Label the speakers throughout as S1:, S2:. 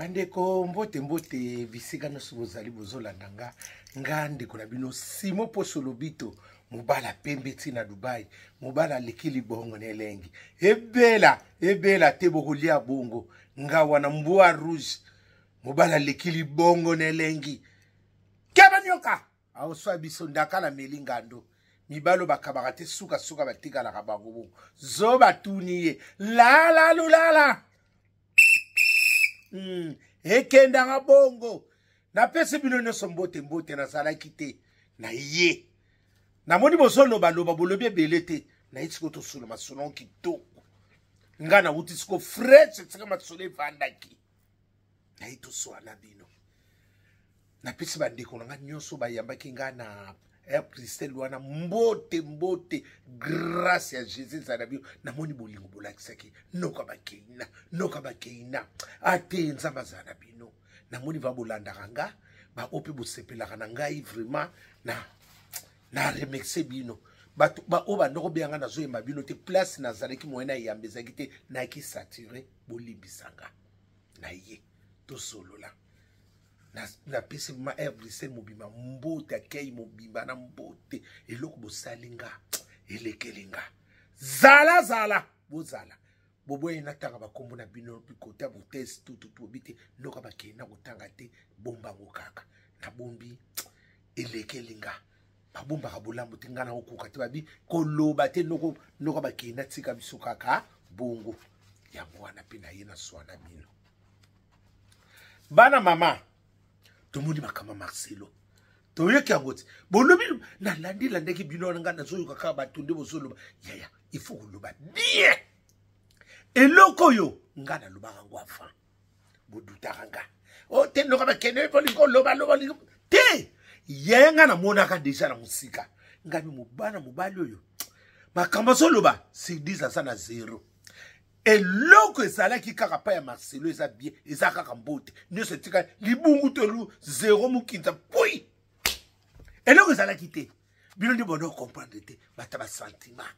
S1: bandeko mbote mbote bisika nyonso bozali bozolanda nga nga ndeko na bino simo poso lobito mobala pembe ti na dubai mobala aleki libongo na elengi ebela ebela te bokolia bongo nga wana mbwa rouge mobala aleki libongo na elengi keba nyoka aoswa biso ndaka na meli ngando mibalo bakabaka te sukasuka batikalaka bango bongo zo batuni ye lalalulala mm. ekendaka bongo napesi bino nyonso mbote mbote nazalaki te na ye namoni bozolobaloba bolobi ebele te naye sikoyo tosolo masolo kitoko ngai nauti sikoyo fresh esika masolo efandaki naye toswana bino napesi bandeko na ngai nyonso bayambaki ngai na eh, pristele wana mbote mbote grâce ya jésus ezala na bino namoni bolingo bolakisaki noka bakeina noka bakeina ate ah, nzambe azala na bino namoni va bolandaka nga baoyo mpe bosepelaka na ngai vraiment na na remercie bino bato baoyo bandoko beya ngai nazoyemba bino te place nazalaki moye na eyamba ezalaki te nayaki sature bolimbisanga na ye tosolola napesi ma air bruxelles mobimba mbote akei mobimba na mbote eloko bosali nga elekeli nga zala zala bozala boboyi natanga bakombo na bino bikota botese tututuobi te noka bakei na kotanga te bombango kaka nabombi elekeli nga babombaka bolamu te ngai nakokoka te babi koloba te noko noka bakei natika biso kaka bongo yango wana mpe naye na swana bino bana mama tomoni makambo ya marcelo toyoki yango te bolobi nalandi landaki bino wana ngai nazoyoka kaka bato nde bozoloba yaya ifo koloba bien eloko oyo ngai nalobaka yango avant bodutaka nga o oh, te loka bakende bolingi oloba loba olingi te yaya ngai namonaka deja na mosika ngai mobana mobali oyo makambo azoloba sedis aza na zero eloko ezalaki kaka pa ya marcelo eza bie eza kaka mbote nyonso etikali libungu tolu zero mokinza pui eloko ezalaki te bino nde bona okomprendre te bato ya basentiment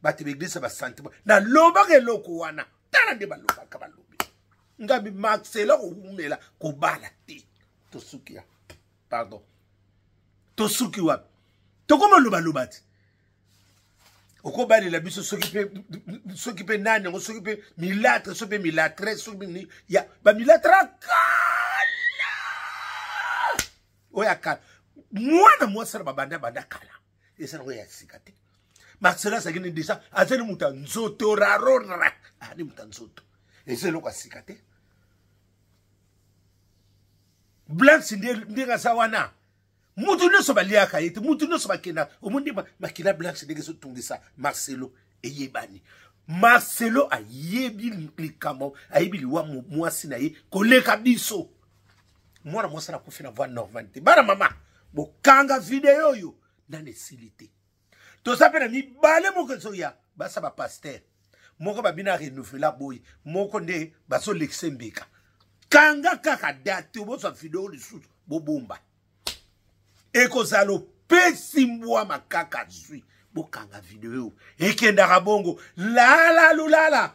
S1: bato ya baeglise ya basentiment nalobaka eloko wana tala nde balobaka balobi ngambi marcelo kowumela kobala te tosuki ya pardon tosuki wapi tokoma lobaloba te okobalela biso soki mpe soki mpe nani yango soki mpe milatre soki mpe milatre soki mpe ya bamilatre ya kala oyo ya kala mwana mwasi na babanda banda kala eza nango ya sika te marcela azalaki ne deja azali moto ya nzoto rarora ani moto ya nzoto eza eloko ya sika te blanche ndenge aza wana moto nyonso baliaka ye te moto nyonso bakenda omoni nde makila blanche ndenge ezotungisa marcelo eyebani marcelo ayebi likambo ayebi liwa mwasi na ye koleka biso mwana mwasi anakufi na voi normali te bana mama bokanga video oyo nani esili te toza mpe na mibale moko ezoya basa bapaster moko babina renouvela boye moko nde bazolekisa mbeka kanga kaka date bozwa video lisusu bobomba ekozala opesi mbwa makaka zwi bokanga video ekendaka bongo lala lulala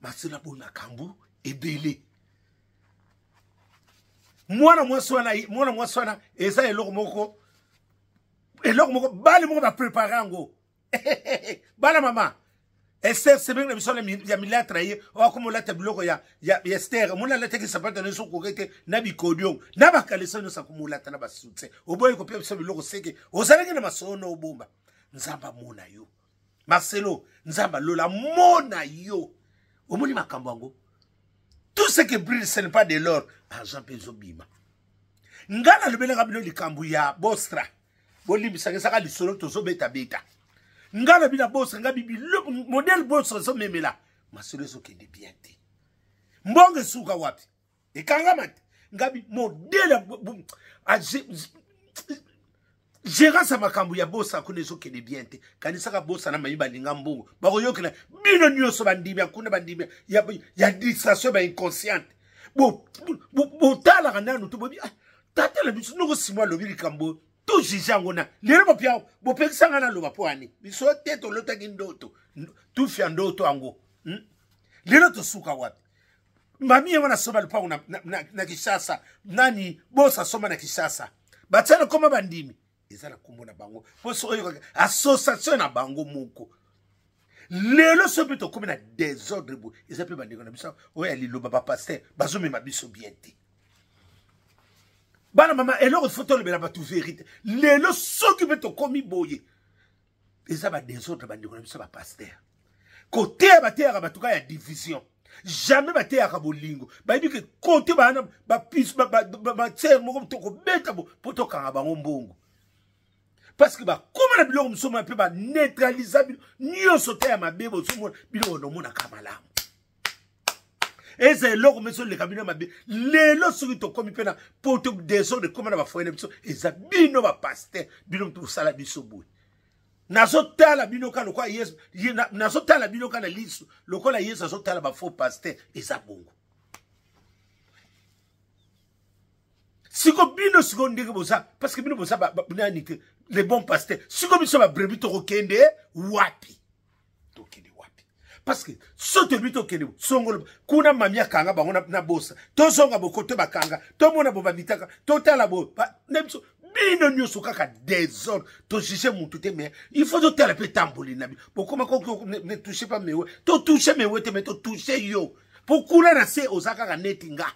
S1: masela bo nakambu ebele mwana mwasi wana mwana mwasi wana eza eloko moko eloko moko bale moko baprepare yango bana mama ester sebenge na biso ya milatra ye oakoma olata biloko ya ester omoni alataki sapata nyonso okoki te na bikodio na bakalesa nyonso akoma olata na basutse oboyi kopia biso biloko seke ozalaki na masono obomba nzambe amona yo marcelo nzambe lola mona yo omoni makambo yango tout ce que brille ce n'est pas de l'or argent mpe ezobima ngai nalobelaka bino likambo ya bostra bolimbisaka ezaka lisolo tozobetabeta ngai na bino bostra ngai bibilo modele bostra ezomemela masolo ezokende bien te mbongo esuka wapi ekangama te ngabi modele gérance ya makambo ya bosa kuna ezokende bien te kanisaka bosa na mami balinga mbongo bakoyokela bino nyonso bandimi ya kuna bandimi ya, ya distraction ba inconsciente botalaka bo, bo nanu to bobi ah, tata na biso noko simo alobi likambo to juge yango na lelo bopia bopekisa ngai naloba mpo ani biso te tolotaki ndoto tufi ya ndoto yango hmm? lelo tosuka wapi mamie wana asomba lupango na, na, na, na kishasa nani bosa asomba na kishasa batia lokoma bandimi eza na nkombo na bango mpo soki oyokaka association na bango moko lelo soki mpe tokómi na desordre boye eza mpe bandeko na biso oyo ya liloba bapaster bazomema biso bien te bana mama eloko fo tolobela bato verité lelo soki mpe tokómi boye eza ba desordre bandeko na biso ba pasteur koteya bateyaka bato ka ya division jamais bateyaka bolingo bayebi ke kote baana batsere moko tokobeta mpo tokanga bango mbongo parce que bakoma na biloko mosusu mpe baneutralisa bino nyonso te ya mabe bozomona biloko naomonaka malamu eza eloko mpe ezoleka bino mabe lelo soki tokómi mpe na poto desordre ekóma na bafoye na biso eza bino bapaster bino mpe bosala biso boye nazotala bino ka lokola yesu nazotala bino ka na liso lokola yesu azotala bafaux paster eza bongo siko bino siko ndenge boza parce que bino boza nani te le bon paster siko biso babrebi tokokende wapi tokende wapi parce que so toyebi tokende songolo kuna mami akanga bango na bosa tozonga bokoto bakanga tomona bo bamitaka totala bo na biso bino nyonso kaka desordre tojuge motu te mais il faut totala mpe etamboli na bino bokoma ne touche pas mewe totouche mewe te mais totouche yo mpo kuna na se oza kaka neti nga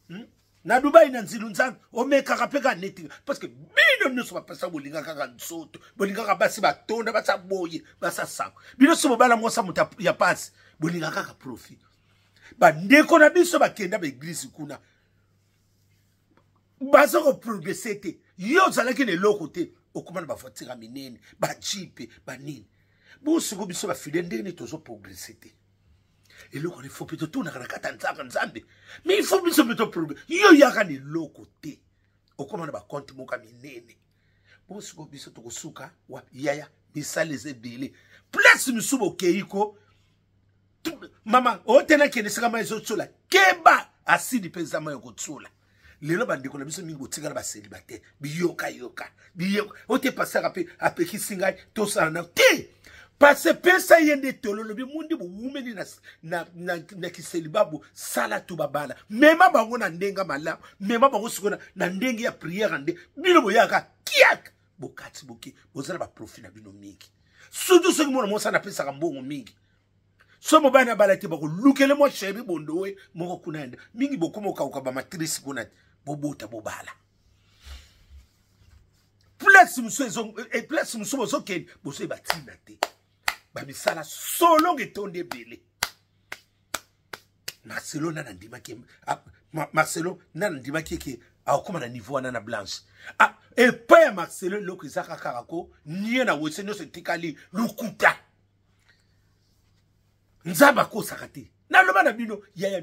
S1: hmm? na dubai na nzilu nzambe omekaka mpe kaka neti parce que bino nyonso bapesa bolinga kaka nzoto bolingaka basi batonda basa boye basa sango bino so bobala mwasa moto ya pasi bolinga kaka profit bandeko na biso bakenda baeglise kuna baza koprogrese te yo ozalaki na eloko te okoma na bavoitire ya minene bajipe banini bosiko biso bafide ndenge nini tozoprogrese te eloko lifo mpe totunaka na kati ya nzaka nzambe me ifo biso mpe toproblème yo yaka na eloko te okoma na bakonte moko ya minene bosiko biso tokosuka wapi yaya misala eza ebele place mosusu bokei ko mama otelaki ena esika mai ezotsola keba asidi mpe eza mai okotsola lelo bandeko na biso mingi botikala baselibate biyokayoka biyoka oyo te pasaka mpe apekisi ngai tosala na te pase pesa ye nde tolo lobi mundi bowumeli na, na, na, na kiseliba bosala to babala mema bango na ndenge malamu mema bango sikoyo na ndenge ya priere nde bino boyaka kiak bokati boke boza na baprofi na bino mingi surtout soki mwana mwasi anapesaka mbongo mingi so mobali abala te bakolukele mwa sheri bondowe moko kuna yende mingi bokoma okauka bamatrice kuna bobota bobala place mosusu eh, place mosusu bozokende bozoye batina te bamisala solongo etondi ebele marcelo nana andimaki ah, marcelo nana andimaki eke akokoma na niveau wana na blanche ah, epai ya marcelo eloko ezaka kaka ko nie na wese nyonso etikali lokuta nzambe akosaka te naloba na bino yaya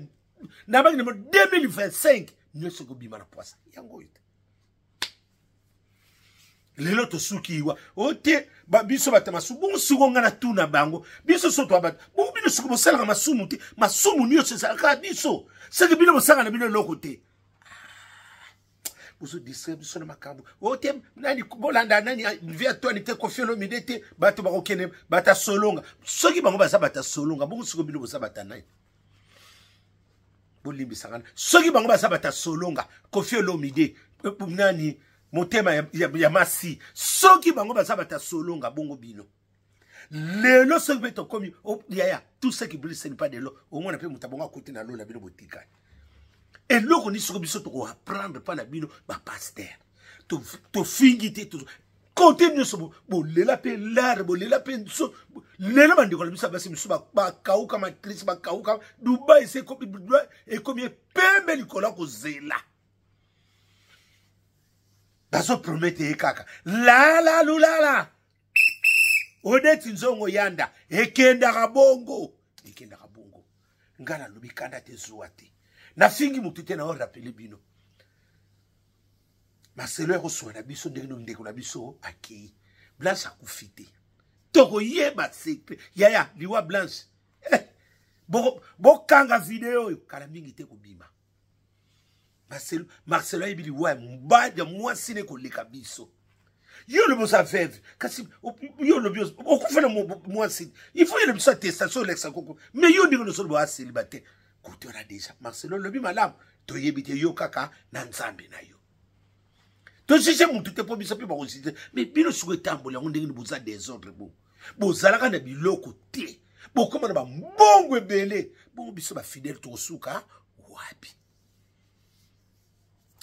S1: nabaki namo 2025 nyonso ekobima na pwasa yango oyo te lelo tosuki wa o te biso bato masumu bongo siko ngai natuna bango biso so twa bato bongo bino siko bosalaka masumu te masumu nyonso ezalaka biso seke bino bosanga na bino eloko te bozo distraire biso na makambo o oh, te nani bolanda nani ah, vie atwani te kofi olomide te bato bakokende bato ya solonga soki bango baza bato ya solonga bongo siko bino boza bato ya nani bolimbisaka soki bango baza bato ya solonga kofi olomide eh, nani motema ya, ya, ya masi soki bango baza bato ya solonga bongo bino lelo soki mpe tokomi yaya tout ce qui brille seni pas de l'eau omona mpe moto abongo akuti na lola bino botikani eloko nini soki biso tokoapprendre mpa na bino bapaster tofingi te kote nyonso bolela mpe lare bolela mpe nso lelo bandeko na biso ya basi mosusu bakauka matrice bakauka dubai se ekomi epembe likolo ya kozela bazopromete ye kaka lalalulala odeti nzongo yanda ekendaka bongo ekendaka bongo ngai nalobi kanda te zuwa te nafingi motu te na orapele bino maselo ya koswa na biso ndenge no ndeko na biso akei blanche akufi te tokoyeba secret yaya liwa blanche eh, bokanga video oyo kala mingi te kobima marcelo marcelo ayebi liwa ya mobali ya mwasi ne koleka biso yo olobi oza veve kasi yo olobi okufa na mwasi il faut yele biso attestation olekisa koko mais yo ndenge nosolo boa célibataire kotora déjà marcelo olobi malamu toyebi te yo kaka na nzambe na yo tojuge motu te mpo biso mpe bakojuge me bino siko etamboli yango ndenge ni boza desordre bo bozalaka na biloko te bokoma na bambongo ebele bongo biso bafidele tokosuka wapi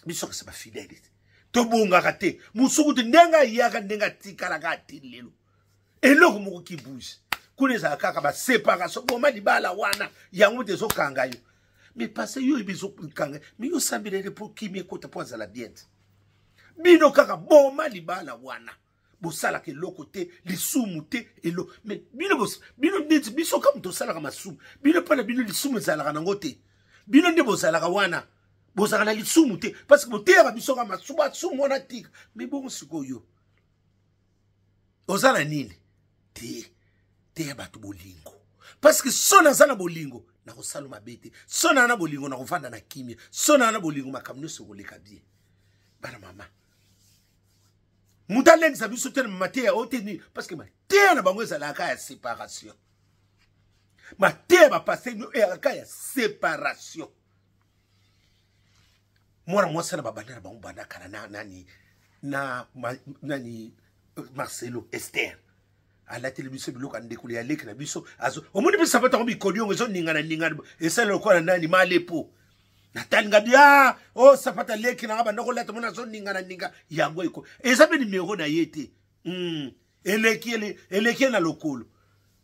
S1: biso kasi bafidele te tobongaka te mosuku te ndenge ayaka ndenge atikalaka ati lelo eloko moko ki bouge kuna ezala kaka baseparation boma libala wana yango moto ezokanga yo mais pase yo oyebi ezokanga mais yo osambelele mpo kimi ekota mpo azala bien te bino kaka boma libala wana bosalaka eloko te lisumu te elo mais bino bino neti biso kaka moto osalaka masumu bino mpo na bino lisumu ezalaka nango te bino nde bozalaka wana bozalaka na lisumu te parce que boteyaka biso kaka masumu asumu wana tika mais bongo sikoyo oza na nini te teya bato bolingo parceke so naza na bolingo nakosala mabe te so naa na bolingo nakovanda na kimia so naa na bolingo makambo nyonso ekoleka bie bana mama moto alendisa biso te na mateya oyo te nini parceke mateya na bango ezalaka ya séparation mateya bapase eyaka ya séparation mwana mwasi wana babanda na bango banda kala na nani na ma, nani euh, marcelo ester alateli biso biloko ya ndekolo ya leki na biso azo omoni mpe sapato yango mikoli yango ezoningana ningana esala lokola nani malepo natalinga bia ah, o oh, sapato ya leki nanga banda kolata mona azoningana ninga yango eko eza mpe nimero na ye te mm. eleki eleki na lokolo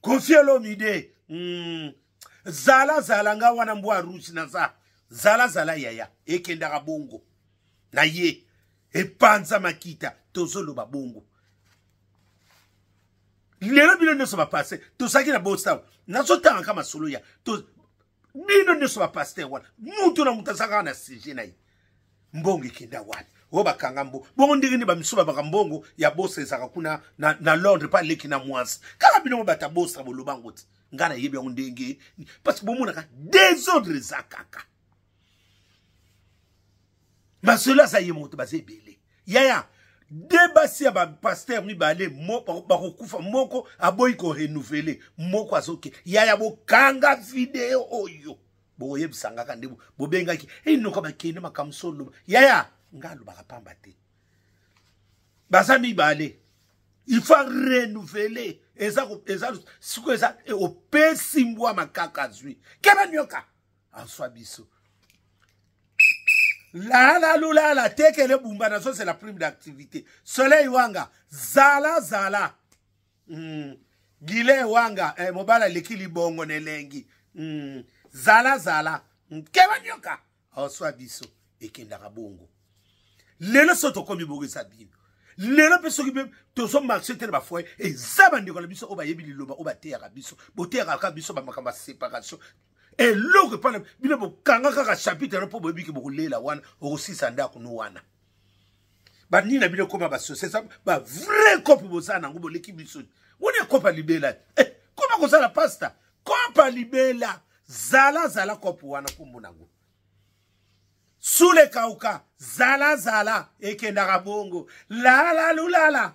S1: kofi elomide mm. zala zala nga wana mbwa rusi naza zala zala yaya ekendaka bongo na ye epanza makita tozoloba bongo lelo bino nyonso bapase tozalaki na bostaw nazotangaka masolo ya bino nyonso bapaster wana mutu na moto aza kaka na sujet na ye mbongo ekenda wana oyo bakanga mbo bongo ndenge nini bamisu babaka mbongo ya bosa ezalaka kuna na, na londre mpe aleki na mwasi kaka bino mo bata bosa boloba yango te ngai nayebi yango ndenge parce que bomonaka desordre eza kaka masolo aza ye moto baza ebele yaya de basi ya bapaster mibale bakokufa mo, moko aboyi korenouvele moko azoke yaya bokanga video oyo bokoyebisa ngaka nde bobengaki enoko eh, bakende makambo so oloba yaya ngai alobaka pamba te baza mibale il faut renouveler eza eza sikoyo eza eh, opesi mbwa makaka azwi keba nyoka aswa biso lala lulala tekele bumba nazozela prime d'activité soleil wanga zala zala mm. gile wanga eh, mobala aleki libongo na elengi mm. zala zala mm. keba nyoka oswa biso ekendaka bongo lelo so tokomi bongo eza bino lelo mpe soki mpe tozomarche te na bafoye eza bandeko na biso oyo bayebi liloba oyo bateyaka biso boteyaka kaka biso bamakambo ya séparation eloko epai na bino bokanga kaka chapitre yango mpo boyebi ke bokolela wana okosisa ndako no wana banini na bino ekoma basosiesa bavrai kope boza nango boleki biso woni ekopa libela eh, koma kozala pasta kopa libela zala zala kope wana nkombo nango sule kauka zala zala ekendaka bongo lalalulala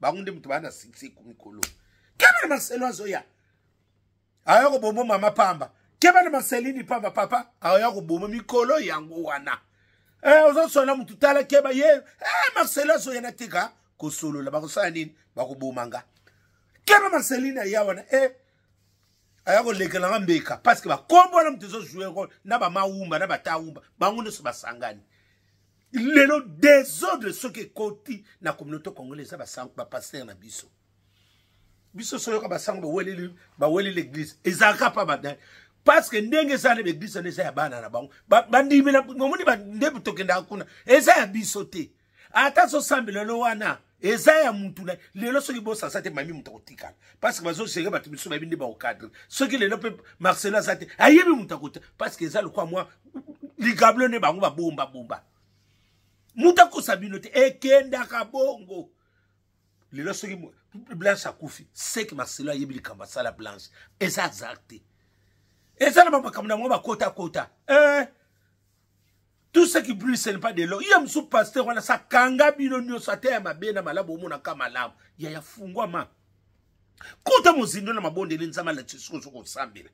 S1: bango nde moto baa na succès ku mikolo kebe na marcelo azoya aya kobombo mama pamba keba na marcelini pamba papa aya koboma mikolo yango wana eh, ozosola motu tala keba ye eh, marcelo azoya na tika kosolola bakosala nini bakoboma nga keba marcelini aya wana eh, aya kolekela nga mbeka parceke bakombo wana moto ezojoue na bamawumba na batawumba bango nyonso basangani lelo desordre soki ekoti na communauté congolais eza bapaster na biso biso soyoka basango baweli l'église ezalaka pa badani parce que ndenge eza na baeglise wana eza ya bana na bango bandimi omoni nde tokendaka kuna eza ya biso te ata zosambela lelo wana eza ya mutu na lelo soki bosasa te mami moto akotikala parceke bazogere bato misusu bayebi nde baokadre soki lelo mpe marcelo aza te ayebi moto akota parceke eza lokwa mwa ligablo nde bango babomba bomba moto akosa bino te ekendaka bongo lelo soki blanche akufi seke marcelo ayebi likambo asala blanche eza azar te eza na bamakambo na bango bakotakota eh. tout ce qui brille ce n'est pas de l'or ye mosusu pasteur wana sakanga bino nyonso ata ya mabe na malamu omonaka malamu ya ya fungwama kota mozindo na mabondeli nzambe alakisi soki ozo kosambela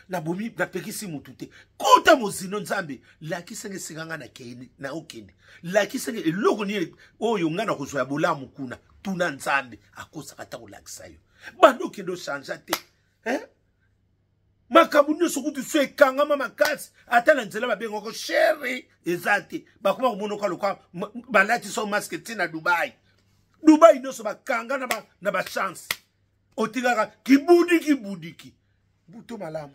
S1: nabomi napekisi motu te kota mozindo nzambe lakisenge esika ngai nakende naokende lakisenge eloko nini oyo ngai nakozwa ya bolamu kuna tuna nzambe akosaka ata kolakisa yo banda okende ochange te eh? makambo nyonso kutu so ekangama makasi ata na nzela babengako sheri eza te bakoma komonoka loka balatiso maske ti na dubai dubai nyonso bakanga na, ba, na bachance otikaka kibudiki budiki buto malamu